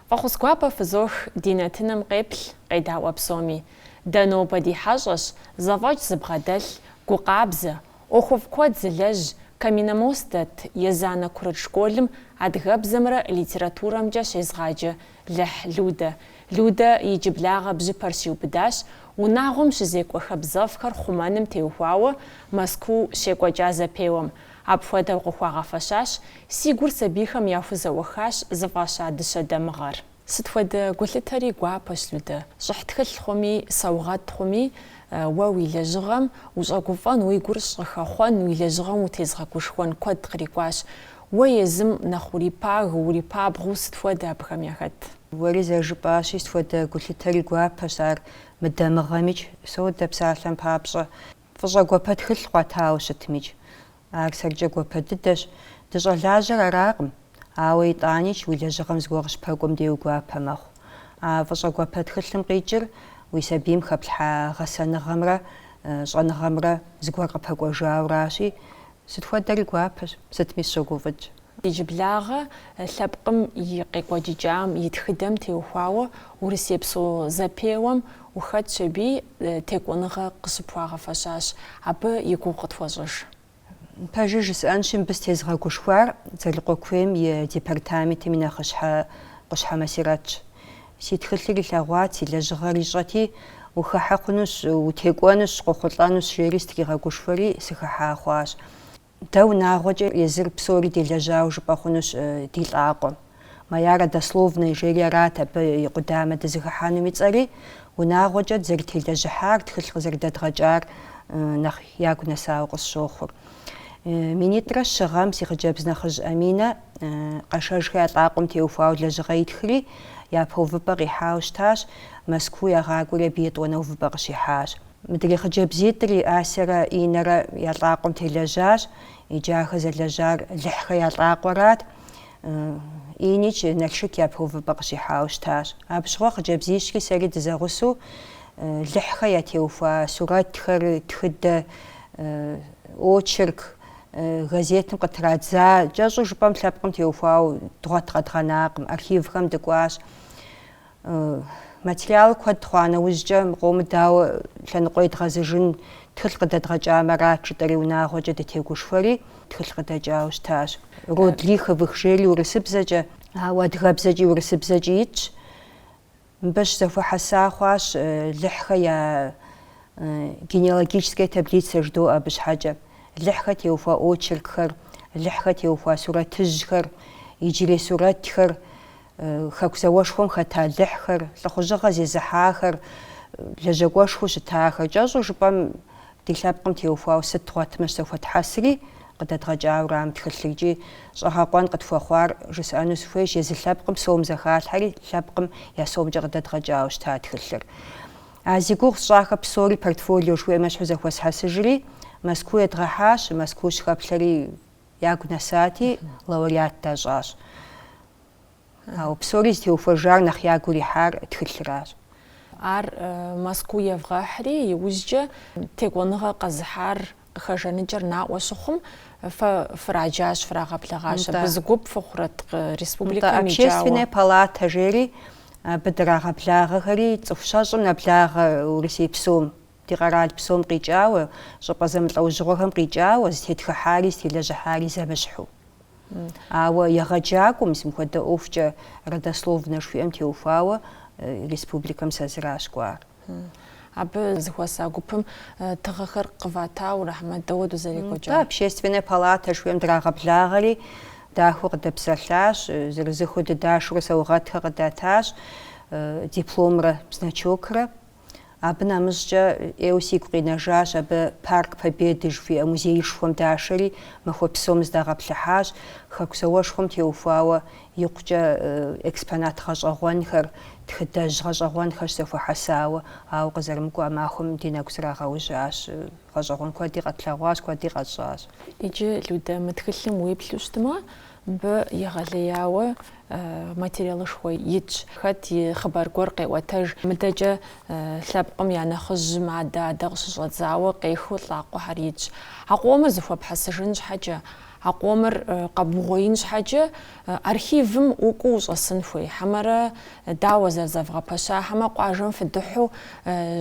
Фӏэхъус гуапэ фызох ди нэтыным къеплъ, къедаӏуэ псоми. Дэ нобэ ди хьэщӏэщ, зэфӏэкӏ зыбгъэдэлъ, гукъабзэ, ӏуэхуфӏ куэд зылэжь Каменномост дэт Езанэ курыт школым адыгэбзэмрэ литературэмкӏэ щезгъаджэ Лыхь Людэ. Людэ иджыблагъэ бжьыпэр щиубыдащ, унагъуэм щызекӏуэ хабзэфӏхэр хъумэным теухуауэ Мэзкуу щекӏуэкӏа зэпеуэм. Апхуэдэу къыхуагъэфэщащ, Си гур сабийхэм яхузэӏуэхащ зыфӏаща дыщэ дамыгъэр. Сыт хуэдэ гулъытэри гуапэщ, Людэ. Щӏыхь тхылъ хъуми, саугъэт хъуми, уэ уи лэжьыгъэм ущӏэгуфӏэн, уи гур щӏыхэхъуэн, уи лэжьыгъэм утезгъэгушхуэн куэд кърикӏуащ. Уэ езым нэхъ урипагэу, урипабгъэу сыт хуэдэ абыхэм яхэт? Уэри зэрыжыпӏащи, сыт хуэдэ гулъытэри гуапэщ, ар мыдамыгъэмикӏ, содэ псалъэм папщӏэ. Фӏыщӏэ гуапэ тхылъ къуатауэ щытмикӏ, Ар сэркӏэ гуапэ дыдэщ, дыщӏэлажьэр аракъым, ауэ итӏаникӏ уи лэжьыгъэм зыгуэр къыщыпэкӏуэм дей уи гуапэ мэхъу. А фӏыщӏэ гуапэ тхылъым къикӏыр уи сабийм хэплъхьа гъэсэныгъэмрэ щӏэныгъэмрэ зыгуэр къыпэкӏуэжауращи, сыт хуэдэри гуапэщ, сытми сыщогуфӏыкӏ. Иджыблагъэ лъэпкъым и къекӏуэкӏыкӏам и тхыдэм теухуауэ урысейпсо зэпеуэм ухэтщ аби текӏуэныгъэ къыщыпхуагъэфэщащ. Абы и гугъу къытхуэщӏыж. Пэжыр жысӏэнщи, мыбы сытезыгъэгушхуар Дзэлыкъуэ куейм и департаментым и нэхъыщхьэ Къущхьэ Масирэтщ. Си тхылъыр илъэгъуат, си лэжьыгъэр ищӏэти, Ухыхьэ хъунущ, утекӏуэнущ, къохъулӏэнущ, жери сытригъэгушхуэри, сыхыхьа хъуащ. Дэ унагъуэкӏэ езыр псори делэжьауэ жыпӏэ хъунущ ди лӏакъуэм. Моя родословная жери арат абы и къудамэ дызыхыхьэнум и цӏэри, унагъуэкӏэ дызэрытелэжьыхьар, тхылъ къызэрыдэдгъэкӏар нэхъ ягу нэсауэ къысщохъур. Минитӏрэ щы гъэм си хъыджэбз нэхъыжь Аминэ Къэшэжхэ я лӏакъуэм теухуауэ лэжьыгъэ итхри, япэ увыпӏэ къихьауэ щытащ, Мэзкуу ягъакӏуэри абы етӏуанэ увыпӏэ къыщихьащ. Мыдрей хъыджэбзитӏри Асэрэ Инэрэ я лӏакъуэм телэжьащ, иджы ахэр зэлэжьар Лыхьхэ я лӏакъуэрат. Иникӏ Налшык япэ увыпӏэ къыщихьауэ щытащ. Абыщыгъуэ хъыджэбзищри сэри дызэгъусэу Лыхьхэ ятеухуа сурэтхэр, тхыдэ, очерк, газетым къытрадза, кӏэщӏу жыпӏэм лъэпкъым теухуауэ дгъуэт къэдгъэнакъым, архивхэм дыкӏуащ. Материал куэд хъуа нэужькӏэ, мы къомыр дауэ лъэныкъуэ едгъэзыжын тхылъ къыдэдгъэкӏамэ арат жытӏэри унагъуэкӏэ дытегушхуэри, тхылъ къыдэкӏауэ щытащ. Род Лиховых жери урысыбзэкӏэ. Ауэ адыгэбзэкӏи урысыбзэкӏи итщ. Мыбы щызэхуэхьэса хъуащ Лыхьхэ я генеалогическая таблицэ жыдоӏэ абы щхьэкӏэ. Лыхьхэ теухуа очеркхэр, Лыхьхэ теухуа сурэтыжьхэр, иджырей сурэтхэр, Хэку зауэшхуэм хэта Лыхьхэр, лӏыхъужьыгъэ зезыхьахэр, лэжьакӏуэшхуэу щытахэр кӏэщӏу жыпӏэм ди лъэпкъым теухуауэ сыт дгъуэтмэ щызэхуэтхьэсри къыдэдгъэкӏауэ арам тхылъыр икӏи щӏэгъэкъуэн къытхуэхъуар жысӏэну сыхуейщ, езы лъэпкъым сом зэхалъхьэри лъэпкъым я сомкӏэ къыдэдгъэкӏауэ щыта тхылъыр. А зи гугъу сщӏахэр псори портфолио жыхуиӏэм ещхьу зэхуэсхьэсыжри, Мэзкуу едгъэхьащ, Мэзкуу щыхэплъэри ягу нэсати, лауреат дащӏащ. Ауэ псори зытеухуэжар нэхъ ягу ирихьар тхылъыращ. Ар Мэзкуу евгъэхьри, иужькӏэ текӏуэныгъэ къэзыхьар къыхэжаныкӏэр наӏуэ щыхъум, фэ фраджащ, фрагъэблэгъащ. Абы зы гуп фыхъурэт республикэм икӏауэ? Общественная палата жери абы драгъэблагъэхэри цӏыху щэщӏым нэблагъэ Урысей псом. Ди къэрал псом къикӏауэ, щӏыпӏэ зэмылӏэужьыгъуэхэм къикӏауэ, зытетхыхьари зытелэжьыхьари зэмыщхьу. Ауэ егъэджакӏуэм, мис мыхуэдэ ӏуэхукӏэ родословнэ жыхуиӏэм теухуауэ, республикэм сэ зыращ кӏуар. Абы зыхуэса гупым тыгъэхэр къыватауэ ара хьэмэ дауэ зэрекӏуэкӏар? Дэ Общественная палата жыхуиӏэм драгъэблагъэри, дахэу къыдэпсэлъащ, зырызыххэу дыдашурэ саугъэтхэр къыдатащ, дипломрэ значокрэ. Абы нэмыщӏкӏэ ӏейуэ сигу къинэжащ абы Парк Победы жыхуиӏэ музеишхуэм дашэри, махуэ псом зыдагъэплъыхьащ, Хэку зауэшхуэм теухуауэ икъукӏэ экспонат гъэщӏэгъуэнхэр, тхыдэжь гъэщӏэгъуэнхэр щызэхуэхьэсауэ, ауэ къызэрымыкӏуэ а махуэм ди нэгу зрагъэужьащ, гъэщӏэгъуэн куэди къэтлъэгъуащ, куэди къэтщӏащ. Иджы, Людэ, мы тхылъым уеплъу щытмэ, Мыбы егъэлеяуэ материалышхуэ итщ. Хэт и хъыбар гуэр къеӏуэтэж. Мыдэкӏэ лъэпкъым я нэхъыжьым адэ-адэ къыщыщӏэдзауэ къехыу лӏакъуэхэр итщ. А къомыр зыхуэпхьэсыжын щхьэкӏэ, а къомыр къэбугъуеин щхьэкӏэ архивым укӏуу ущӏэсын хуей хьэмэрэ Дауэ зэрызэвгъэпэща, хьэмэ къуажэм фыдыхьу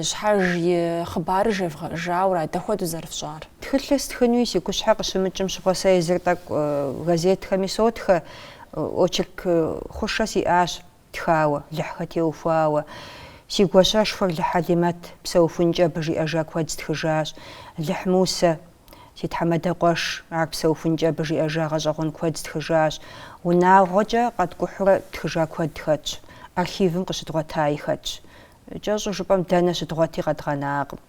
щхьэж и хъыбарыр жевгъэӏэжауэ ара, дапхуэдэу зэрыфщӏар? Тхылъыр стхынуи си гущхьэ къыщымыкӏым щыгъуэ сэ езыр тӏэкӏу газетхэми сотхэ, очерк хъушэ сиӏащ тхауэ, Лыхьхэ теухуауэ. Си гуащэшхуэр Лыхь Хьэлимэт, псэухункӏэ абы жиӏэжа куэд стхыжащ, Лыхь Мусэ, Си тхьэмадэ къуэш, ар псэухункӏэ абы жиӏэжа гъэщӏэгъуэн куэд стхыжащ. Унагъуэкӏэ къэткӏухьурэ тхыжа куэд хэтщ. Архивым къыщыдгъуэтаи хэтщ. Кӏэщӏу жыпӏэм, дэнэ щыдгъуэти къэдгъэнакъым.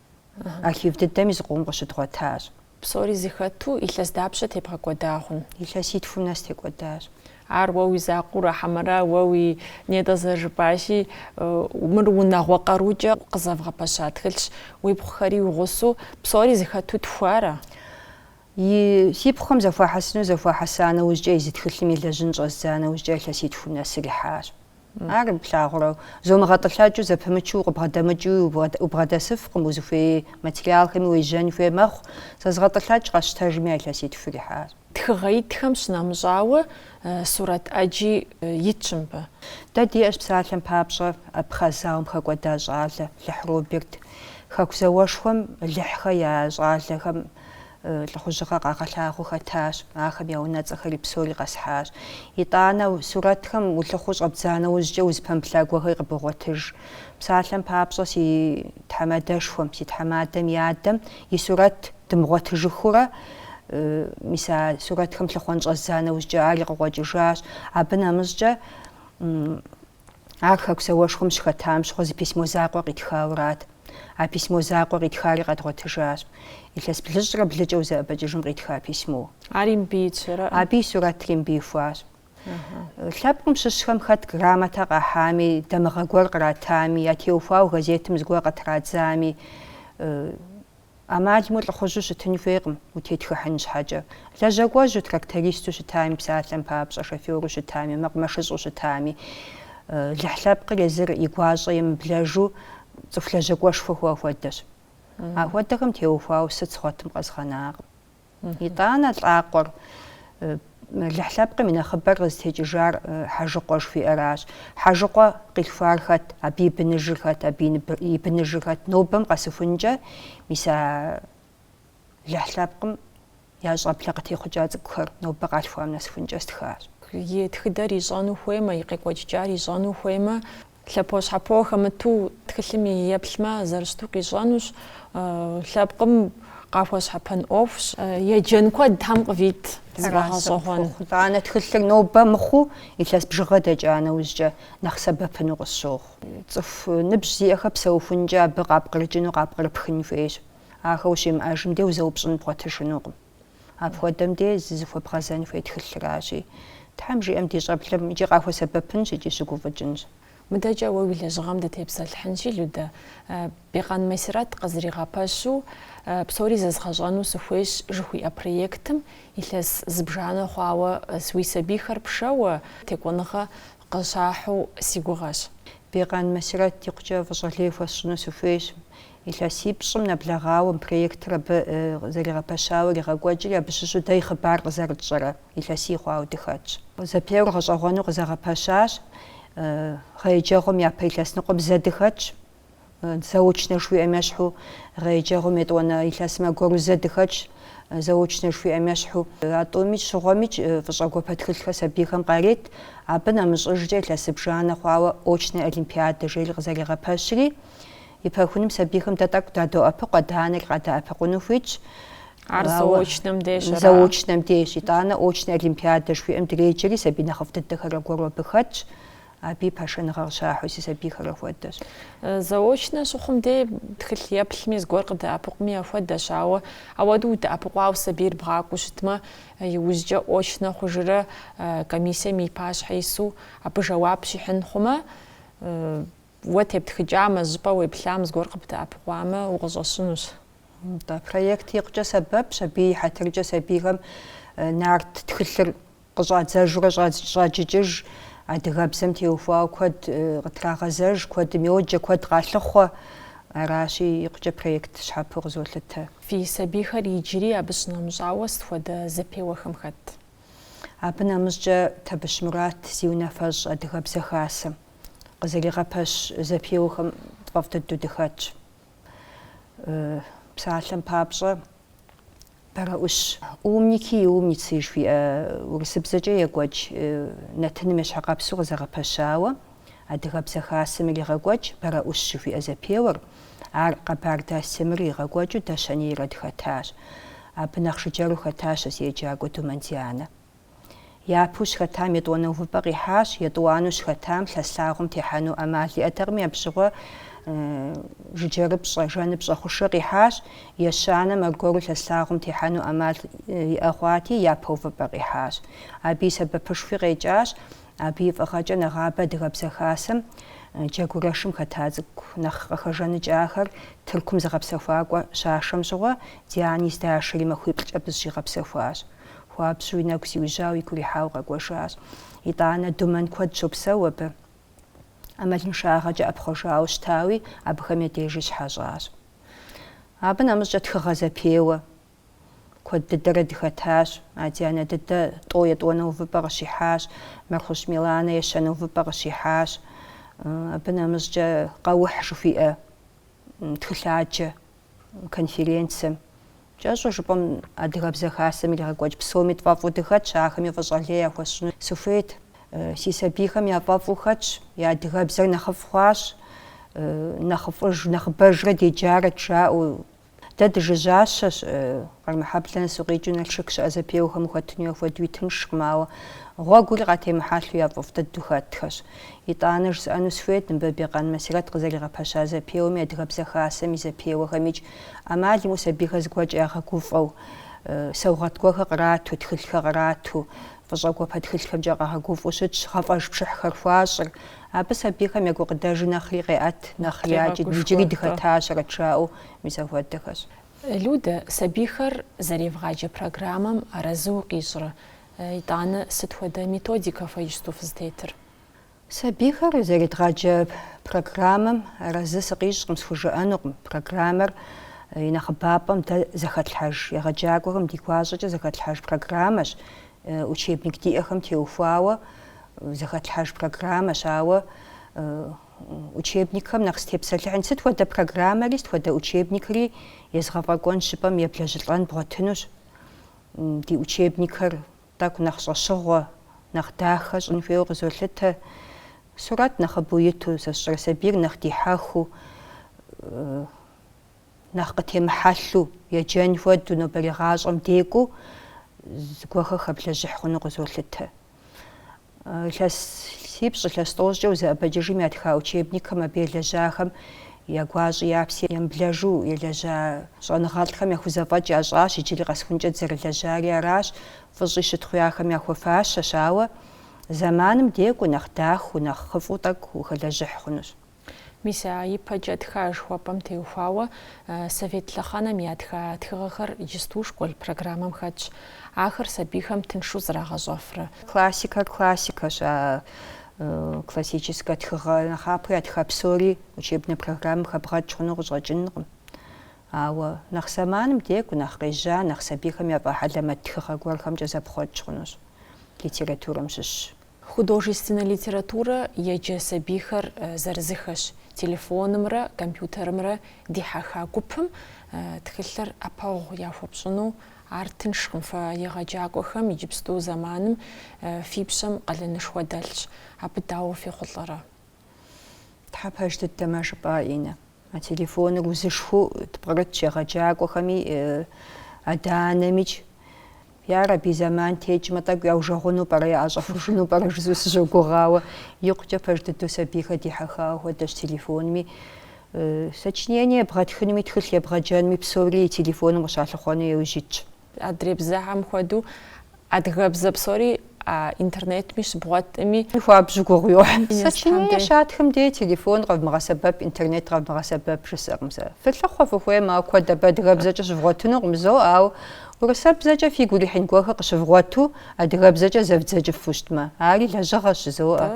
Архив дыдэми зыкъом къыщыдгъуэтащ. Псори зыхэту, илъэс дапщэ тебгъэкӏуэда хъун? Илъэситхум нэс текӏуэдащ. Ар уэ уи закъуурэ, хьэмэрэ уэ уи нетӏэ зэрыжыпӏащи, мыр унагъуэ къарукӏэ къызэвгъэпэща тхылъщ, уи пхъухэри уи гъусу, псори зыхэту тхауэра? И си пхъухэм зэхуахьэсыну зэхуахьэса нэужькӏэ езы тхылъым елэжьын щӏэздза нэужькӏэ илъэситхум нэсыр ихьащ. Ар плъагъурэ, зэ умыгъэтӏылъэкӏыу, зэпымычу укъыбгъэдэмыкӏыу убгъэдэсыфкъым, узыхуей материалхэми уежьэн хуей мэхъу. Зэ згъэтӏылъэкӏ къэсщтэжми а илъэситхур ихьащ. Тхыгъэ итхэм щынэмыщӏауэ, сурэт ӏэджи итщ мыбы. Дэ диӏэщ псалъэм папщӏэ Абхъаз зауэм хэкӏуэда щӏалэ Лыхь Роберт. Хэку зауэшхуэм Лыхьхэ я щӏалэхэм Лӏыхъужьыгъэ къагъэлъагъуэу хэтащ, ахэм я унэцӏэхэри псори къэсхьащ. Итӏанэ, сурэтхэм улъыхъуэу щӏэбдза нэужькӏэ узыпэмыплъа гуэрхэр къыбогъуэтыж. Псалъэм папщӏэ, си тхьэмадэшхуэм, си тхьэмадэм и адэм и сурэт дымыгъуэтыжыхыурэ, мис а сурэтхэм лъыхъуэн щӏэздза нэужькӏэ ари къыкъуэкӏыжащ. Абы нэмыщӏкӏэ, Ар Хэку зауэшхуэм щыхэтам щыгъуэ зы письмо закъуэ къитхаурат. А письмо закъуэ къитхари къэдгъуэтыжащ. Илъэс блыщӏрэ блыкӏэ узэӏэбэкӏыжым къитха письмо. Ари мыбы итщ, ара? Абы и сурэтри мыбы ихуащ. Лъэпкъым щыщхэм хэт грамотэ къахьами, дамыгъэ гуэр къратами, ятеухуауэ газетым зыгуэр къытрадзами, ӏэмал имыӏэу лӏыхъужьу щытын хуейкъым, утетхыхьын щхьэкӏэ. Лэжьакӏуэжьу, трактористу щытами, псалъэм папщӏэ, шоферу щытами, мэкъумэшыщӏу щытами, Лыхь лъэпкъыр езыр и гуащӏэ емыблэжу цӏыху лэжьакӏуэшхуэ хъуа хуэдэщ. Ахуэдэхэм теухуауэ сыт згъуэтым къэзгъэнакъым. Итӏанэ лӏакъуэр Лыхь лъэпкъым и нэхъыбэр къызытекӏыжар Хьэжыкъуэ жыхуиӏэращ. Хьэжыкъуэ къилъхуар хэт, абы и быныжыр хэт, абы и быныжыр хэт, нобэм къэсыхункӏэ, мис а Лыхь лъэпкъым я щӏэблэ къытехъукӏа цӏыкӏухэр нобэ къалъхуам нэсыхункӏэ стхащ. И тхыдэр ищӏэну хуеймэ, и къекӏуэкӏыкӏар ищӏэну хуеймэ, Лъэпощхьэпо хэмыту тхылъым еплъмэ, зэрыщыту къищӏэнущ, лъэпкъым къахуэщхьэпэн ӏуэхущ. Еджэн куэд Тхьэм къывит зыфӏэгъэщӏэгъуэн. Итӏанэ тхылъыр нобэ мыхъуу, илъэс бжыгъэ дэкӏа нэужькӏэ нэхъ сэбэпыну къысщохъу. Цӏыху ныбжь зиӏэхэр псэухункӏэ абы къапкърыкӏыну, къапкърыпхын хуейщ. Ахэр ущимыӏэжым де узэупщӏын бгъуэтыжынукъым. Апхуэдэм де зызыхуэбгъэзэн хуей тхылъращи, Тхьэм жиӏэм ди щӏэблэм икӏи къахуэсэбэпынщ икӏи щыгуфӏыкӏынщ. Мыдэкӏэ уэ уи лэжьыгъэм дытепсэлъыхьынщи, Людэ, Бекъан Масирэт къызэригъэпэщу Псори зэзгъэщӏэну сыхуейщ жыхуиӏэ проектым илъэс зыбжанэ хъуауэ уи сабийхэр пшэуэ текӏуэныгъэ къыщахьу си гугъэщ. Бекъан Масирэт икъукӏэ фӏыщӏэ лей хуэсщӏыну сыхуейщ. Илъэсипщӏым нэблэгъауэ проектыр абы зэригъэпэщауэ иригъэкӏуэкӏри, абы щыщу дэ и хъыбар къызэрытщӏэрэ илъэсий хъуауэ дыхэтщ. Зэпеуэр гъэщӏэгъуэну къызэгъэпэщащ. Гъэ еджэгъуэм япэ илъэс ныкъуэм зэ дыхэтщ. Заочнэ жыхуиӏэм ещхьу гъэ еджэгъуэм етӏуанэ илъэсым аргуэру зэ дыхэтщ. Заочнэ жыхуиӏэм ещхьу. А тӏумикӏ щыгъуэмикӏ фӏыщӏэ гуапэ тхылъхэр сабийхэм къарет. Абы нэмыщӏыжкӏэ илъэс зыбжанэ хъуауэ очнэ олимпиадэ жери къызэригъэпэщри, И пэхуным сабийхэм дэ тӏэкӏу дадоӏэпыкъу, адэ-анэри къадэӏэпыкъуну хуитщ. Ар заочнэм деж ара? Заочнэм деж. Итӏанэ очнэ олимпиадэ жыхуиӏэм дреджэри, сабий нэхъыфӏ дыдэхэр аргуэру абы хэтщ. Абыи пашэныгъэ къыщахьу си сабийхэр апхуэдэщ. Заочнэ щыхъум де тхылъ еплъми зыгуэр къыдэӏэпыкъуми яхуэдэщ, ауэ ауэду удэӏэпыкъуауэ сабийр бгъакӏуэу щытмэ, иужькӏэ очнэ хъужрэ комиссием и пащхьэ ису абы жэуап щихьын хъумэ, Уэ тептхыкӏамэ, жьыпӏэ уеплъам зыгуэр къыбдэӏэпыкъуамэ, укъыщӏэщынущ. Нтӏэ, проект икъукӏэ сэбэпщ, абы и хьэтыркӏэ сабийхэм нарт тхылъыр къыщӏадзэжурэ щӏаджыкӏыж, адыгэбзэм теухуауэ куэд къытрагъэзэж, куэдым йоджэ, куэд къалъыхъуэ. Аращи, икъукӏэ проект щхьэпэу къызолъытэ. Фи сабийхэр иджыри абы щынэмыщӏауэ сыт хуэдэ зэпеуэхэм хэт? Абы нэмыщӏкӏэ Табыщ Мурат зи унафэщӏ Адыгэбзэ Хасэм. къызэригъэпэщ зэпеуэхэм тфӏэфӏ дыдэу дыхэтщ. Псалъэм папщӏэ, Бэрэӏущ. Умники и умницы жыхуиӏэ урысыбзэкӏэ екӏуэкӏ нэтыным ещхьыркъэпсу къызэгъэпэщауэ Адыгэбзэ Хасэм иригъэкӏуэкӏ Бэрэӏущ жыхуиӏэ зэпеуэр, ар Къэбардэ Асем иригъэкӏуэкӏыу дэ щэнейрэ дыхэтащ. Абы нэхъ жыджэру хэтащ а си еджакӏуэ Думэн Дианэ. Япэу щыхэтам етӏуанэ увыпӏэ къихьащ, етӏуанэу щыхэтам лъэс лъагъуэм техьэну ӏэмал иӏэтэкъыми, абы щыгъуэ жыджэрыпщӏэ, жэныпщӏэ хъушэ къихьащ, ещанэм аргуэру лъэс лъагъуэм техьэну ӏэмал иӏэ хъуати, япэ увыпӏэ къихьащ. Абы и сэбэпышхуи къекӏащ, абы и фӏыгъэкӏэ нэгъабэ Адыгэбзэ Хасэм джэгурэшым хэта цӏыкӏу нэхъ къыхэжаныкӏахэр Тыркум зыгъэпсэхуакӏуэ щашэм щыгъуэ, Диани здашэри махуиплӏкӏэ абы зыщигъэпсэхуащ. Хуабжьу и нэгу зиужьауэ игу ирихьауэ къэкӏуэжащ. Итӏанэ Думэн куэд щопсэу абы. ӏэмалыншагъэкӏэ ӏэпхъуэжауэ щытауи, абыхэм я дежи щыхьэщӏащ. Абы нэмыщӏкӏэ тхыгъэ зэпеуэ куэд дыдэрэ дыхэтащ. Адианэ дыдэ тӏо етӏуанэ увыпӏэ къыщихьащ, Мэрхъущ Миланэ ещанэ увыпӏэ къыщихьащ. Абы нэмыщӏкӏэ Къэухь жыхуиӏэ тхылъаджэ конференцэм Кӏэщӏу жыпӏэм Адыгэбзэ Хасэм иригъэкӏуэкӏ псоми тфӏэфӏу дыхэтщ, ахэми фӏыщӏэ лей яхуэсщӏыну сыхуейт. Си сабийхэм я фӏэфӏу хэтщ, я адыгэбзэр нэхъыфӏ хъуащ, нэхъыфӏыж, нэхъыбэжрэ деджарэт жаӏэу. Дэ дыжыжьащэщ, Къармэхьэблэ нэс укъикӏыу Налшык щыӏэ зэпеуэхэм ухэтыну апхуэдэуи тыншкъым, ауэ гъуэгури къатемыхьэлъэу я фӏэфӏ дыдэу хэтхэщ. Итӏанэ жысӏэну сыхуейт, мыбы Бекъан Масирэт къызэригъэпэща зэпеуэми, Адыгэбзэ Хасэм и зэпеуэхэмикӏ ӏэмал имыӏэу сабийхэр зыгуэркӏэ ягъэгуфӏэу, саугъэт гуэрхэр кърату, тхылъхэр кърату, фӏыщӏэ гуапэ тхылъхэмкӏэ къагъэгуфӏэу щытщ, гъэфӏэж пшыхьхэр хуащӏыр. Абы сабийхэм я гукъыдэжыр нэхъри къеӏэт, нэхъри якӏыт, иджыри дыхэтащэрэт жаӏэу, мис апхуэдэхэщ. Людэ, сабийхэр зэревгъаджэ программэм арэзы укъищӏрэ, итӏанэ сыт хуэдэ методикэ фэ иджысту фызытетыр? Сабийхэр зэредгъаджэ программэм арэзы сыкъищӏкъым, схужыӏэнукъым. Программэр и нэхъыбапӏэм дэ зэхэтлъхьэж егъэджакӏуэхэм ди гуащӏэкӏэ зэхэтлъхьэж программэщ, учебник диӏэхэм теухуауэ зэхэтлъхьэж программэщ. Ауэ учебникхэм нэхъ сытепсэлъыхьын, сыт хуэдэ программэри, сыт хуэдэ учебникри езгъэфӏэкӏуэн жыпӏэм еблэжьылӏэн бгъуэтынущ. Ди учебникхэр Тӏэкӏу нэхъ щӏэщыгъуэ, нэхъ дахэ щӏын хуейуэ къызолъытэ. Сурэт нэхъыбэу иту, сэ сщӏэрэ сабийр нэхъ дихьэхыу, нэхъ къытемыхьэлъу, еджэн хуэдэу, нобэрей гъащӏэм декӏуу зыгуэхэ хэблэжьыхь хъуну къызолъытэ. Илъэсипщӏ, илъэс тӏощӏкӏэ узэӏэбэкӏыжым ятха учебникхэм абы елэжьахэм я гуащӏи я пси емыблэжу елэжьа щӏэныгъэлӏхэм яхузэфӏэкӏ ящӏащ, иджыри къэсхункӏэ дызэрылэжьари аращ, фӏыщӏи щытхъуи ахэм яхуэфащэщ, ауэ зэманым декӏуу нэхъ дахэу, нэхъыфӏу тӏэкӏу ухэлэжьыхь хъунущ. Мис а ипэкӏэ тха жыхуэпӏэм теухуауэ совет лъэхъэнэм ятха тхыгъэхэр иджысту школ программэм хэтщ. Ахэр сабийхэм тыншу зрагъэщӏэфрэ. Классикэр классикэщ, а классическэ тхыгъэ нэхъапэу ятха псори учебнэ программэм хэбгъэкӏ хъуну къыщӏэкӏынкъым. Ауэ нэхъ зэманым декӏу, нэхъ къежьа, нэхъ сабийхэм яфӏэхьэлэмэт тхыгъэ гуэрхэмкӏэ зэпхъуэкӏ хъунущ, литературэм щыщщ. Художественнэ литературэ еджэ сабийхэр зырызыххэщ телефонымрэ компьютерымрэ дихьэха гупым тхылъыр ӏэпэгъу яхуэпщӏыну ар тыншкъым. Фэ егъэджакӏуэхэм иджыпсту зэманым фи пщэм къалэнышхуэ дэлъщ. Абы дауэ фехъулӏэрэ? Тхьэ пэж дыдэмэ жыпӏа, Инэ. А телефоныр узышхуэу тпкърытщ егъэджакӏуэхэми, адэ-анэмикӏ. Ярэби, зэман текӏмэ, тӏэкӏу яужэгъуну пӏэрэ, яӏэщӏэхужыну пӏэрэ жызу сыщогугъ, ауэ икъукӏэ пэж дыдэу сабийхэр дихьэхауэ хуэдэщ телефонми. Сочинение ебгъэтхынуми, тхылъ ебгъэджэнуми псори и телефоным къыщалъыхъуэну иужь итщ. Адрей бзэхэм хуэдэу адыгэбзэ псори а интернетми щыбгъуэтми. Хуабжьу гугъу йохь. Сочинение щатхым дей телефон къэвмыгъэсэбэп, интернет къэвмыгъэсэбэп жысӏэкъым сэ. Фылъыхъуэ фыхуеймэ, ауэ куэд абы адыгэбзэкӏэ щывгъуэтынукъым, зо, ауэ урысэбзэкӏэ фигу ирихьын гуэрхэр къыщывгъуэту адыгэбзэкӏэ зэвдзэкӏыфу щытмэ, ари лэжьыгъэщ, жызоӏэ.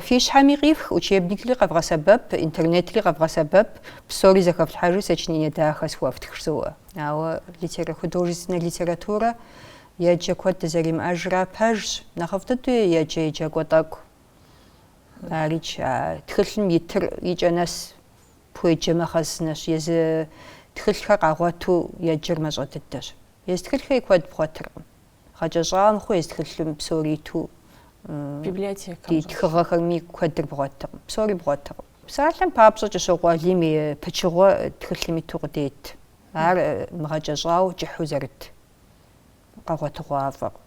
Фи щхьэми къифх, учебникри къэвгъэсэбэп, интернетри къэвгъэсэбэп, псори зэхэфлъхьэжи сочинение дахэ схуэфтх, жызоӏэ. Ауэ литера, художественнэ литературэ еджэ куэд дызэримыӏэжра пэжщ, нэхъыфӏ дыдэу еджэ еджакӏуэ тӏэкӏу. Арикӏ, а тхылъым итыр и кӏэ нэс пхуеджэмэ хъэзынэщ, езы тхылъхэр къагъуэту еджэр мащӏэ дыдэщ. Езы тхылъхэри куэд бгъуэтыркъым. Гъэкӏэщӏауэ мыхъуу езы тхылъым псори иту библиотекэм ди тхыгъэхэрми куэдыр бгъуэтыркъым, псори бгъуэтыркъым. Псалъэм папщӏэ, Кӏыщокъуэ Алим и пычыгъуэ тхылъым иту къыдет, ар мыгъэкӏэщӏауэ кӏыхьу зэрыт къэгъуэтыгъуафӏэкъым.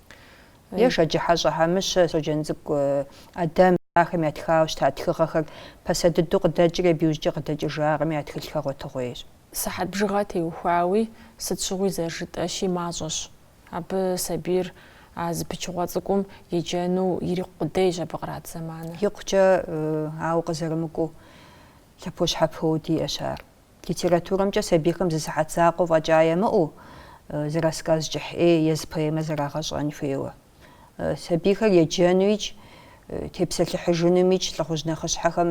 Е Шэджыхьэщӏэ Хьэмыщэ, Щоджэнцӏыкӏу Ӏэдэм, ахэм ятхауэ щыта тхыгъэхэр пасэ дыдэу къыдэкӏри абы иужькӏэ къыдэкӏыжакъыми я тхылъхэр гъуэтыгъуейщ. Сыхьэт бжыгъэ теухуауи, сыт щыгъуи зэрыжытӏэщи мащӏэщ. Абы сабийр а зы пычыгъуэ цӏыкӏум еджэну ирикъу къудейщ абы кърат зэманыр. Икъукӏэ, ауэ къызэрымыкӏуэу, лъэпощхьэпоуэ диӏэщ ар. Литературэмкӏэ сабийхэм зы сыхьэт закъуэ фӏэкӏа ямыӏэу, зы рассказ кӏыхь ӏей е зы поэмэ зэрагъэщӏэн хуейуэ. Сабийхэр еджэнуикӏ, тепсэлъыхьыжынумикӏ, лӏыхъужь нэхъыщхьэхэм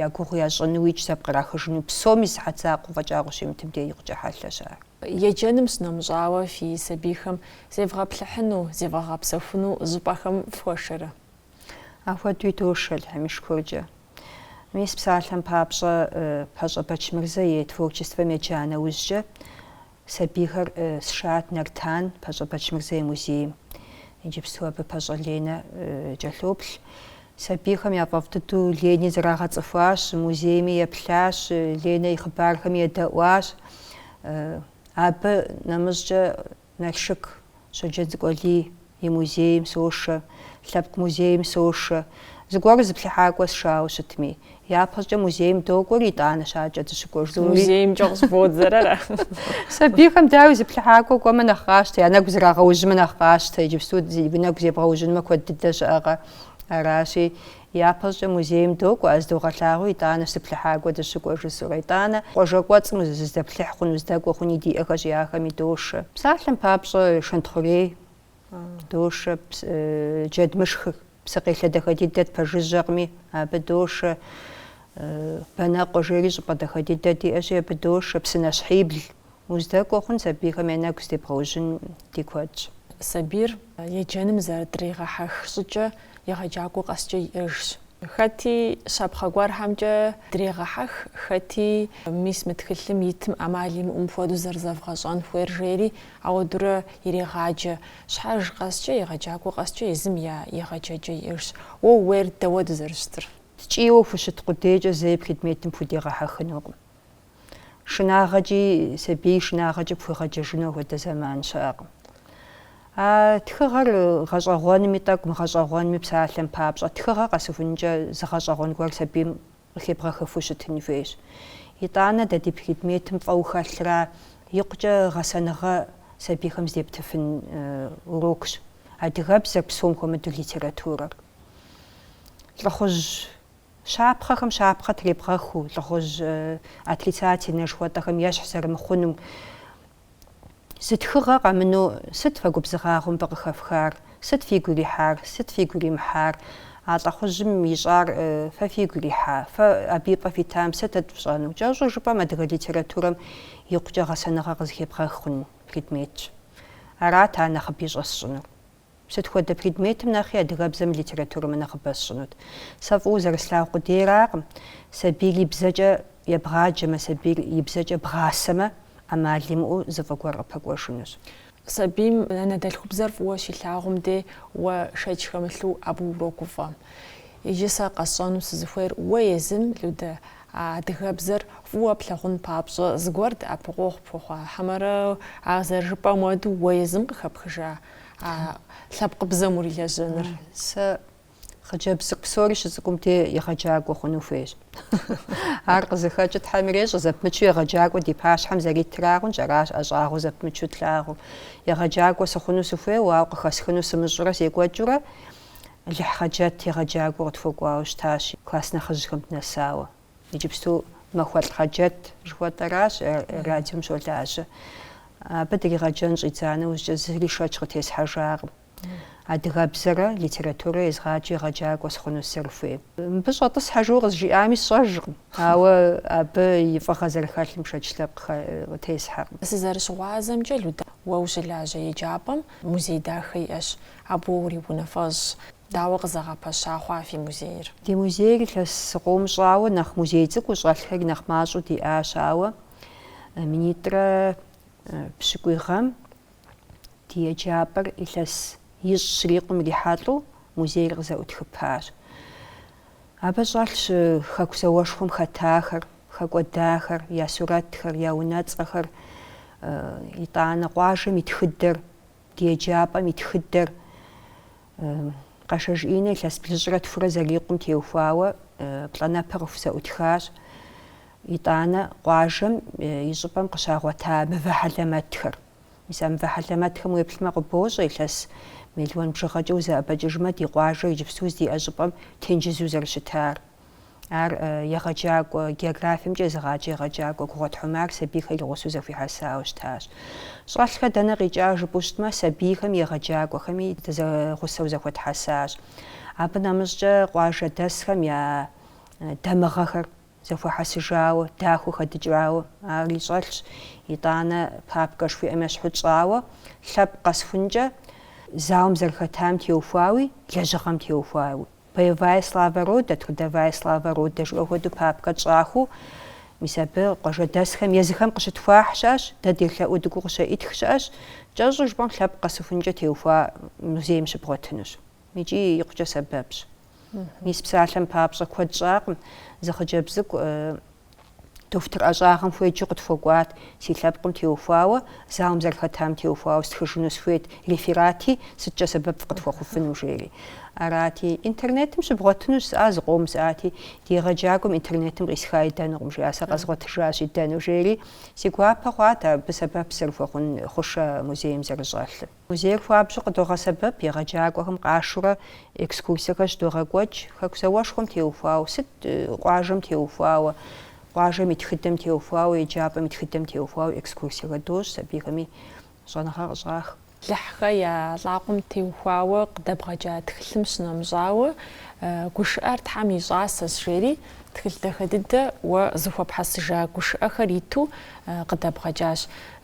я гугъу ящӏынуикӏ зэпкърахыжыну псоми сыхьэт закъуэ фӏэкӏа къыщимытым де икъукӏэ хьэлъэщ ар. Еджэным сынэмыщӏауэ, фи сабийхэм зевгъэплъыхьыну, зевгъэгъэпсэхуну щӏыпӏэхэм фхуэшэрэ? Ахуэдуи дошэ Алыхьым и шыкуркӏэ. Мис псалъэм папщӏэ, Пащӏэ Бэчмырзэ и творчествэм еджа нэужькӏэ, Сабийхэр сшат Нартан Пащӏэ Бэчмырзэ и музейм. Иджыпсту абы Пащӏэ Ленэ кӏэлъоплъ. Сабийхэм яфӏэфӏ дыдэу Лени зэрагъэцӏыхуащ, музейми еплъащ, Ленэ и хъыбархэми едэӏуащ. Абы нэмыщӏкӏэ Налшык Щоджэнцӏыкӏу Алий и музейм сошэ, лъэпкъ музейм сошэ. Зыгуэру зыплъыхьакӏуэ сшауэ щытми, япэщӏыкӏэ музейм докӏуэр, итӏанэщ адэкӏэ дыщыкӏуэр жысӏэури. Музеймкӏэ къыщӏызодзэр. Сабийхэм дауи зыплъыхьакӏуэ кӏуэмэ нэхъ къащтэ, я нэгу зрагъэужьмэ нэхъ къащтэ, иджыпсту уи нэгу зебгъэужьынмэ куэд дыдэ щыӏэкъэ, аращи. Япэщӏыкӏэ музейм докӏуэ, а здогъэлъагъуи итӏанэ зыплъыхьакӏуэ дыщыкӏуэ жысӏэурэ, итӏанэ къуажэ кӏуэцӏым узыздэплъыхь хъуну, уздэкӏуэ хъуни диӏэхэщи, ахэми дошэ. Псалъэм папщӏэ, Шэнтхъурей дошэ, Джэдмышхыр псыкъелъэ дахэ дыдэт, пэжыжьэкъыми, абы дошэ, Бэнэкъуэ жери щӏыпӏэ дахэ дыдэ диӏэщи, абы дошэ, Псынэщхьибл Уздэкӏуэ хъун сабийхэм я нэгу здебгъэужьын ди куэдщ. Сабийр еджэным зэрыдригъэхьэх щӏыкӏэ егъэджакӏуэ къэскӏэ иӏэжщ. Хэти щапхъэ гуэрхэмкӏэ дрегъэхьэх, хэти мис мы тхылъым итым ӏэмал имыӏэу мыпхуэдэу зэрызэвгъэщӏэн хуейр жери ауэдурэ ирегъаджэ. Щхьэж къэскӏэ, егъэджакӏуэ къэскӏэ езым я егъэджэкӏэ иӏэжщ. Уэ ууейр дауэду зэрыщытыр? Ткӏийуэ ухущыт къудейкӏэ зэи предметым пхудегъэхьэхынукъым. шынагъэкӏи, сабий шынагъэкӏи пхуегъэджэжыну апхуэдэ зэман щыӏэкъым. А тхыгъэр гъэщӏэгъуэнми тӏэкӏу, мыгъэщӏэгъуэнми псалъэм папщӏэ, тхыгъэ къэсыхункӏэ зы гъэщӏэгъуэн гуэр сабийм къыхебгъэхыфу щытын хуейщ. Итӏанэ дэ ди предметым фӏыуэ хэлъра, икъукӏэ гъэсэныгъэ сабийхэм здептыфын урокщ адыгэбзэр псом хуэмыдэу литературэр. Лӏыхъужь Щапхъэхэм щапхъэ требгъэхыу, лӏыхъужь отрицательнэ жыхуэтӏэхэм ещхь зэрымыхъунум. Зы тхыгъэ къэмыну сыт фэ губзыгъагъэу мыбы къыхэфхар? Сыт фигу ирихьар? Сыт фигу иримыхьар? А лӏыхъужьым ищӏар фэ фигу ирихьа? Фэ абы и пӏэ фитам сытыт фщӏэну? Кӏэщӏу жыпӏэм адыгэ литературэм икъукӏэ гъэсэныгъэ къызыхебгъэх хъун предметщ. Арат ар нэхъыби щӏэсщӏынур. Сыт хуэдэ предметым нэхъи адыгэбзэми литературэми нэхъыбэ сщӏынут. Сэ фӏыуэ зэрыслъагъу къудейракъым, сабийр и бзэкӏэ ебгъаджэмэ, сабийр и бзэкӏэ бгъасэмэ, ӏэмал имыӏэу зы фӏы гуэр къыпэкӏуэжынущ. Сабийм анэдэлъхубзэр фӏыуэ щилъагъум де уэ шэч хэмылъу абы урогуфӏэ. Иджы сэ къэсщӏэну сызыхуейр, уэ езым, Людэ, а адыгэбзэр фӏыуэ плъагъун папщӏэ, зыгуэр дэӏэпыкъуэгъу пхуэхъуа, хьэмэрэ а зэрыжыпӏэм уэду уэ езым къыхэпхыжа А лъэпкъыбзэм урилэжьэныр. Сэ хъыджэбз цӏыкӏу псори щыцӏыкӏум де егъэджакӏуэ хъуну хуейщ. Ар къызыхэкӏыр Тхьэм ирещӏэ, зэпымычу егъэджакӏуэ ди пащхьэм зэритырагъэнщ, аращ ӏэщӏагъэу зэпымычу тлъагъуу. Егъэджакӏуэ сыхъуну сыхуейуэ, ауэ къыхэсхыну сымыщӏурэ секӏуэкӏыурэ Лыхь Хъэджэт егъэджакӏуэу къытхуэкӏуауэ щытащ класс нэхъыжьхэм дынэсауэ. Иджыпсту Махуэлӏ Хъэджэт жыхуэтӏэращ радиом щолажьэ. Абы дригъэджэн щӏидза нэужькӏэ зыри шэч къытесхьэжакъым. Адыгэбзэрэ литературэ езгъэджу егъэджакӏуэ сыхъуну сызэрыхуейм. Мыбы щӏэтӏысхьэ жиӏэу къызжиӏами сщӏэжкъым, ауэ абы и фӏыгъэ зэрыхэлъым шэч лъэпкъ къытесхьэкъым. Сызэрыщыгъуазэмкӏэ, Люда, уэ ущылажьэ еджапӏэм музей дахэ иӏэщ, абы уэ уриунафэщӏщ. Дауэ къызэгъэпэща хъуа фи музейр? Ди музейр илъэс зыкъом щӏауэ нэхъ музей цӏыкӏуу щӏэлъхэри нэхъ мащӏэу диӏащ, ауэ минитӏрэ пщыкӏуй гъэм ди еджапӏэр илъэсищэ щрикъум ирихьэлӏэу музейр къызэӏутхыпащ. Абы щӏэлъщ Хэку зауэшхуэм хэтахэр, хэкӏуэдахэр, я сурэтхэр, я унэцӏэхэр, итӏанэ къуажэм и тхыдэр, ди еджапӏэм и тхыдэр. Къашэж Иннэ илъэс блыщӏрэ тхурэ зэрикъум теухуауэ плӏэнэпэ къыхузэӏутхащ. Итӏанэ къуажэм и щӏыпӏэм къыщагъуэта мывэ хьэлэмэтхэр. Мис а мывэ хьэлэмэтхэм уеплъмэ къыбощӏэ илъэс мелуан бжыгъэкӏэ узэӏэбэкӏыжмэ ди къуажэр иджыпсту здиӏэ щӏыпӏэм тенджызу зэрыщытар. Ар егъэджакӏуэ географиемкӏэ езыгъаджэ егъэджакӏуэ Гугъуэт Хьумар сабийхэр и гъусэу зэхуихьэсауэ щытащ. Щӏэлъхэр дэнэ къикӏа жыпӏэу щытмэ, сабийхэми егъэджакӏуэхэми зэгъусэу зэхуэтхьэсащ. Абы нэмыщӏкӏэ къуажэдэсхэм я дамыгъэхэр зэхуэхьэсыжауэ, дахэу хэдыкӏауэ ари щӏэлъщ. Итӏанэ папкэ жыхуиӏэм ещхьу тщӏауэ, лъэпкъ къэсыхункӏэ зауэм зэрыхэтам теухуауи, лэжьыгъэм теухуауи. Боевая слава рода, трудовая слава рода жыӏэ хуэдэу папкэ тщӏахэу, мис абы къуажэдэсхэм езыхэм къыщытхуахь щыӏэщ, дэ делъэӏуу дыкӏуэу къыщеӏытх щыӏэщ, кӏэщӏу жыпӏэм лъэпкъ къэсыхункӏэ теухуа музейм щыбгъуэтынущ. Икӏи икъукӏэ сэбэпщ. Мис псалъэм папщӏэ куэд щӏакъым зы хъыджэбз цӏыкӏу Дохутыр ӏэщӏагъэм хуеджэу къытхуэкӏуат, си лъэпкъым теухуауэ, зауэм зэрыхэтам теухуауэ стхыжыну сыхуейт, реферати, сыткӏэ сэбэп фыкъытхуэхъуфыну, жери. Арати, Интернетым щыбгъуэтынущ, жысӏа, зыкъом жысӏати, ди егъэджакӏуэм Интернетым къисха идэнукъым, жиӏа, сэ къэзгъуэтыжащ идэну, жери. Си гуапэ хъуат абы сэбэп зэрыхуэхъун хъушэ музейм зэрыщӏэлъыр. Музейр хуабжьу къыдогъэсэбэп, егъэджакӏуэхэм къашурэ экскурсиехэр щыдогъэкӏуэкӏ, Хэку зауэшхуэм теухуауэ, сыт, къуажэм теухуауэ, къуажэм и тхыдэм теухуауэ, еджапӏэм и тхыдэм теухуауэ экскурсиехэр дощӏ, сабийхэми щӏэныгъэ къыщӏах. Лыхьхэ я лӏакъуэм теухуауэ къыдэбгъэкӏа тхылъым щынэмыщӏауэ, Гушыӏэр Тхьэм и щӏасэщ, жери тхылъ дахэ дыдэ уэ зэхуэпхьэсыжа гушыӏэхэр иту къыдэбгъэкӏащ.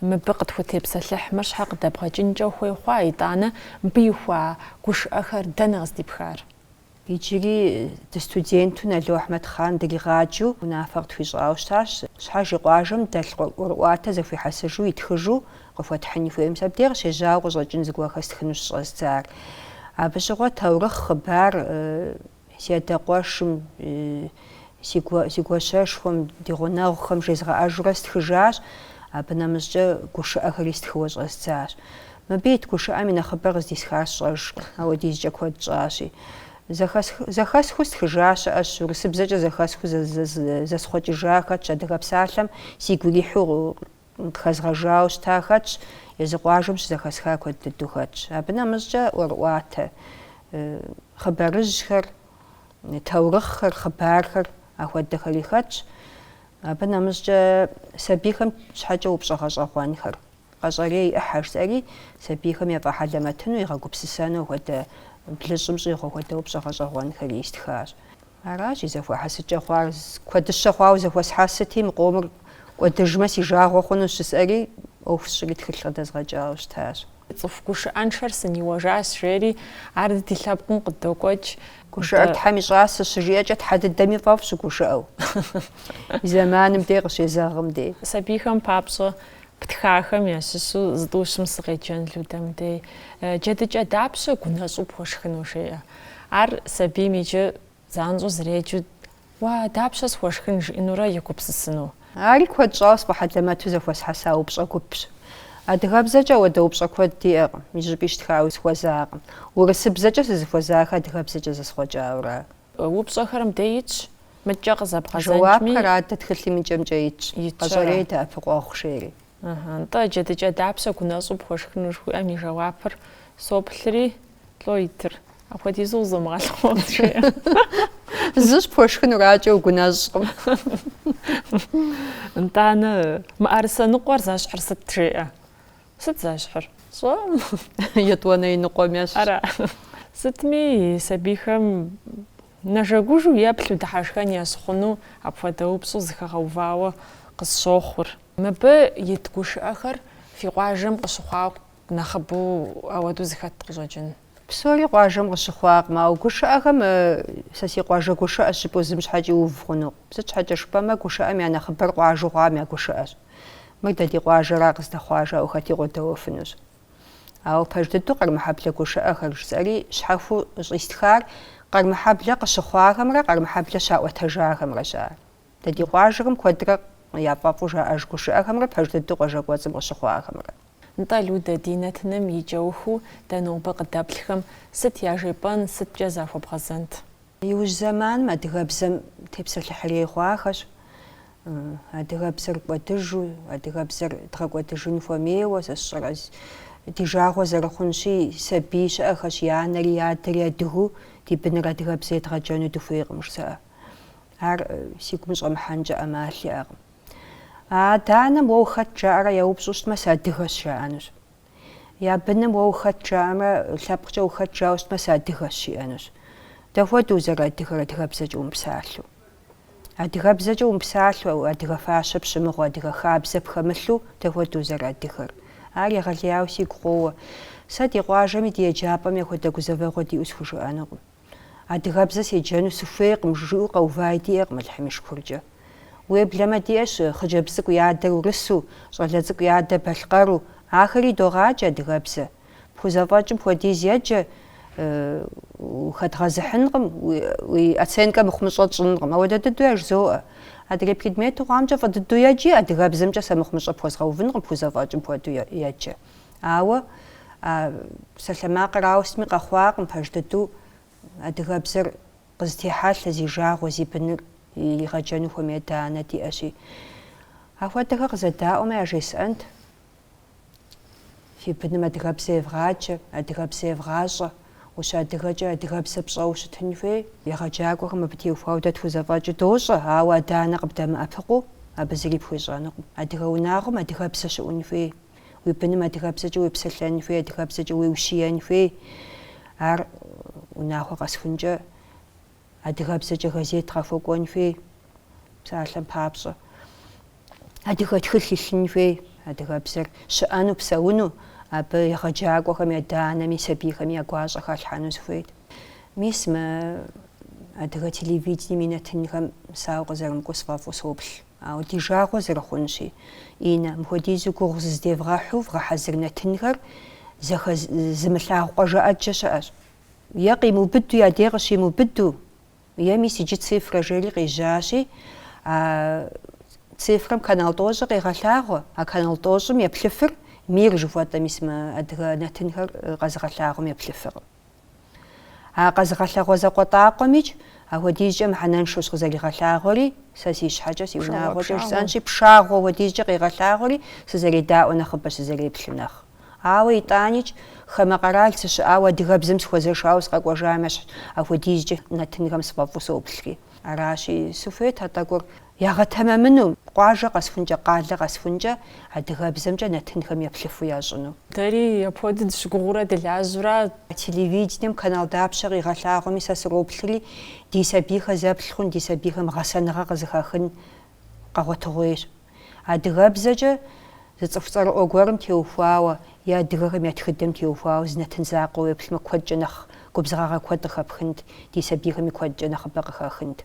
Мыбы къытхутепсэлъыхьмэ, щхьэ къыдэбгъэкӏынкӏэ ухуей хъуа, итӏанэ мыбы ихуа гушыӏэхэр дэнэ къыздипхар? Иджыри ди студенту Нало Ахьмэдхъан дригъаджэу унафэ къытхуищӏауэ щытащ. Щхьэж и къуажэм дэлъ ӏуэрыӏуатэ зэхуихьэсыжу, итхыжу къыхуэтхьын хуейм сэ абдей къыщежьауэ къыщӏэкӏын зыгуэр хэстхыну щыщӏэздзар. Абы щыгъуэ таурыхъ, хъыбар, Си адэ къуэшым, си гуащэшхуэм, ди гъунэгъухэм жезгъэӏэжурэ стхыжащ, абы нэмыщӏкӏэ гушыӏэхэри стхыуэ щӏэздзащ. Мыбы ит гушыӏэм и нэхъыбэр къыздисхар сщӏэжкъым, ауэдизкӏэ куэд щӏащи. Зэхэсхыу стхыжа щыӏэщ, урысыбзэкӏэ зэхэсхыу зэсхъуэкӏыжа хэтщ Адыгэ псалъэм сигу ирихьу Къыхэзгъэжауэ щыта хэтщ, езы къуажэм щызэхэсха куэд дыдэу хэтщ. Абы нэмыщӏкӏэ ӏуэрыӏуатэ хъыбарыжьхэр, таурыхъхэр, хъыбархэр ахуэдэхэри хэтщ. Абы нэмыщӏкӏэ сабийхэм щхьэкӏэ упщӏэ гъэщӏэгъуэнхэр, къэщӏэрей ӏыхьэ жысӏэри, сабийхэм ефӏэхьэлэмэтыну, игъэгупсысэну хуэдэ, блыщӏым щӏигъу хуэдэ упщӏэ гъэщӏэгъуэнхэри истхащ. Аращ и зэхуэхьэсыкӏэ хъуар, куэдыщэ хъуауэ зэхуэсхьэсыти, мы къомыр кӏуэдыжмэ си жагъуэ хъунущ жысӏэри, ӏуэху сщӏри тхылъ къыдэзгъэкӏауэ щытащ. Цӏыху гушыӏэншэр сыниуэжащ, жери, ар ди лъэпкъым къыдокӏуэкӏ. Гушыӏэр Тхьэм и щӏасэщ, щыжиӏэкӏэ Тхьэ дыдэми фӏэфӏщ щыгушыӏэу, и зэманым дей, къыщезэгъым дей. Сабийхэм папщӏэ птхахэм ящыщу зытӏущым сыкъеджэн Людэ, мыбдей. Джэдыкӏэ дапщэ гунэщӏу пхуэшхыну жеӏэ? Ар сабийм иджы занщӏэу зэреджэу, Уа, дапщэ схуэшхын? жиӏэнурэ егупсысыну. Ари куэд щӏауэ сфӏэхьэлэмэту зэхуэсхьэса упщӏэ гупщ. Адыгэбзэкӏэ ауэдэ упщӏэ куэд диӏэкъым, зыщӏыпӏи щытхауэ сыхуэзакъым. Урысыбзэкӏэ сызыхуэзахэр адыгэбзэкӏэ зэсхъуэкӏауэра? Упщӏэхэр мыбдей итщ, мыдкӏэ къызэбгъэдзэкӏмэ, жэуапхэр адэ тхылъым и кӏэмкӏэ итщ, къэщӏэрей дэӏэпыкъуэгъу жери. Нтӏэ, джэдыкӏэ дапщэ гунэщӏу пхуэшхыну жыхуиӏэм и жэуапыр соплъри, Лӏо итыр. Апхуэдизу зумыгъэлъыхъуэу жеӏэ. Зыщ пхуэшхынур, адэкӏэ угунэщӏкъым. Нтӏанэ, мыӏэрысэ ныкъуэр зэщхьыр сыт жеӏэ? Сыт зэщхьыр? Щӏэм? Етӏуанэ и ныкъуэм ещхьщ. Ара. Сытми, сабийхэм нэжэгужу еплъу дыхьэшхэн ящыхъуну апхуэдэ упщӏэу зэхэгъэувауэ къысщохъур. Мыбы ит гушыӏэхэр фи къуажэм къыщыхъуакъэ? Нэхъыбэу ауэдэу зэхэт къыщӏэкӏын. Псори къуажэм къыщыхъуакъым, ауэ гушыӏэхэм сэ си къуажэ гушыӏэщ жыпӏэу зым щхьэкӏи уув хъунукъым. Сыт щхьэкӏэ жыпӏэмэ, гушыӏэм я нэхъыбэр къуажэу хъуам я гушыӏэщ. Мыр дэ ди къуажэра къыздэхъуар, жаӏэу хэти къодэуэфынущ. Ауэ пэж дыдэу къэрмыхьэблэ гушыӏэхэр жысӏэри щхьэхуэу щӏистхар къэрмыхьэблэ къыщыхъуахэмрэ къэрмыхьэблэ щаӏуэтэжахэмрэщ ар. Дэ ди къуажэхэм куэдрэ яфӏэфӏу жаӏэж гушыӏэхэмрэ пэж дыдэу къуажэ кӏуэцӏым къыщыхъуахэмрэ. Нтӏэ, Людэ, ди нэтыным и кӏэухыу дэ нобэ къыдэплъхэм сыт яжепӏэн, сыткӏэ захуэбгъэзэнт? Иужь зэманым адыгэбзэм тепсэлъыхьрей хъуахэщ. Адыгэбзэр кӏуэдыжу, адыгэбзэр дгъэкӏуэдыжын хуэмейуэ, сэ сщӏэрэ, ди жагъуэ зэрыхъунщи, сабий щыӏэхэщ, и анэри и адэри адыгу, ди быныр адыгэбзэ едгъэджэну дыхуейкъым жызыӏэ. Ар си гум щӏэмыхьэнкӏэ ӏэмал иӏэкъым. А адэ-анэм уэ ухэт жаӏэрэ яупщӏу щытмэ, сыадыгэщ жаӏэнущ. Я быным уэ ухэт жаӏэмрэ лъэпкъкӏэ ухэт жауэ щытмэ, сыадыгэщ жиӏэнущ. Дапхуэдэу узэрыадыгэр адыгэбзэкӏэ умыпсалъэу? Адыгэбзэкӏэ умыпсалъэу, адыгэ фащэ пщымыгъыу, адыгэ хабзэ пхэмылъу, дапхуэдэу узэрыадыгэр? Ар егъэлеяуэ сигу къоуэ. Сэ ди къуажэми ди еджапӏэми апхуэдэ гузэвэгъуэ диӏэу схужыӏэнукъым. Адыгэбзэ седжэну сыхуейкъым, жызыӏэу къэуваи диӏэкъым Алыхьым и шыкуркӏэ. Уеблэмэ диӏэщ хъыджэбз цӏыкӏу и адэр урысу, щӏалэ цӏыкӏу и адэр балъкъэру, ахэри догъаджэ адыгэбзэ. Пхузэфӏэкӏым хуэдиз еджэ, ухэдгъэзыхьынкъым, уи оценкэ мыхъумыщӏэ тщӏынкъым. Ауэдэ дыдэу яжызоӏэ. Адрей предмету хъуамкӏэ фӏы дыдэу еджи, адыгэбзэмкӏэ сэ мыхъумыщӏэ пхуэзгъэувынкъым, пхузэфӏэкӏым хуэдэу еджэ. Ауэ а псалъэмакъыр ауэ сытми къэхъуакъым пэж дыдэу адыгэбзэр къызытехьэлъэ зи жагъуэ, зи быныр игъэджэну хуэмей адэ-анэ диӏэщи. Ахуэдэхэр къызэдаӏуэмэ яжесӏэнт, фи быным адыгэбзэ евгъаджэ, адыгэбзэ евгъащӏэ, ущыадыгэкӏэ адыгэбзэ пщӏэуэ щытын хуей. Егъэджакӏуэхэм абы теухуауэ дэ тхузэфӏэкӏыу дощӏэ, ауэ адэ-анэ къыбдэмыӏэпыкъуу абы зыри пхуещӏэнукъым. Адыгэ унагъуэм адыгэбзэ щыӏун хуей. Уи быным адыгэбзэкӏэ уепсэлъэн хуей, адыгэбзэкӏэ уеущиен хуей. Ар унагъуэ къэсыхункӏэ адыгэбзэкӏэ газет къахуэкӏуэн хуей, псалъэм папщӏэ. Адыгэ тхылъ илъын хуей, адыгэбзэр щыӏэну, псэуну, абы егъэджакӏуэхэми, адэ-анэми, сабийхэми я гуащӏэ халъхьэну сыхуейт. Мис мы адыгэ телевидением и нэтынхэм сэ ауэ къызэрымыкӏуэу сфӏэфӏу соплъ. Ауэ ди жагъуэ зэрыхъунщи, Инэ, мыхуэдизу гугъу зыздевгъэхьу вгъэхьэзыр нэтынхэр зэхэз, зымылъагъу къуажэ ӏэджэ щыӏэщ. Е къимыубыду я дей къыщимыубыду, е мис иджы цифрэ жери къежьащи, а цифрэм канал тӏощӏыр къегъэлъагъуэ, а канал тӏощӏым еплъыфыр мир жыхуэтӏэ, мис мы адыгэ нэтынхэр къэзыгъэлъагъуэм еплъыфыркъым. А къэзыгъэлъагъуэ закъуэтӏакъуэмикӏ, апхуэдизкӏэ мыхьэнэншэущ къызэригъэлъагъуэри, сэ си щхьэкӏэ, си унагъуэкӏэ жысӏэнщи, пшагъуэу апхуэдизкӏэ къегъэлъагъуэри, сызэредаӏуэ нэхъыбэ сызэреплъ нэхъ. Ауэ итӏаникӏ, хамэ къэрал сыщыӏауэ адыгэбзэм сыхуэзэшауэ сыкъэкӏуэжам ещхьщ, апхуэдизкӏэ нэтынхэм сфӏэфӏу соплъри. Аращи, сыхуейт а тӏэкӏур Ягъэтэмэмыну, къуажэ къэсхункӏэ, къалэ къэсхункӏэ адыгэбзэмкӏэ нэтынхэм еплъыфу ящӏыну. Дэри апхуэдэу дыщыгугъыурэ дылажьэурэ. Телевидением канал дапщэ къигъэлъагъуэми сэ сроплъри, ди сабийхэр зэплъ хъун, ди сабийхэм гъэсэныгъэ къызыхэхын къэгъуэтыгъуейщ. Адыгэбзэкӏэ зы цӏыху цӏэрыӏуэ гуэрым теухуауэ е адыгэхэм я тхыдэм теухуауэ зы нэтын закъуэ уеплъмэ, куэдкӏэ нэхъ губзыгъагъэ куэд къыхэпхынт, ди сабийхэми куэдкӏэ нэхъыбэ къыхэхынт.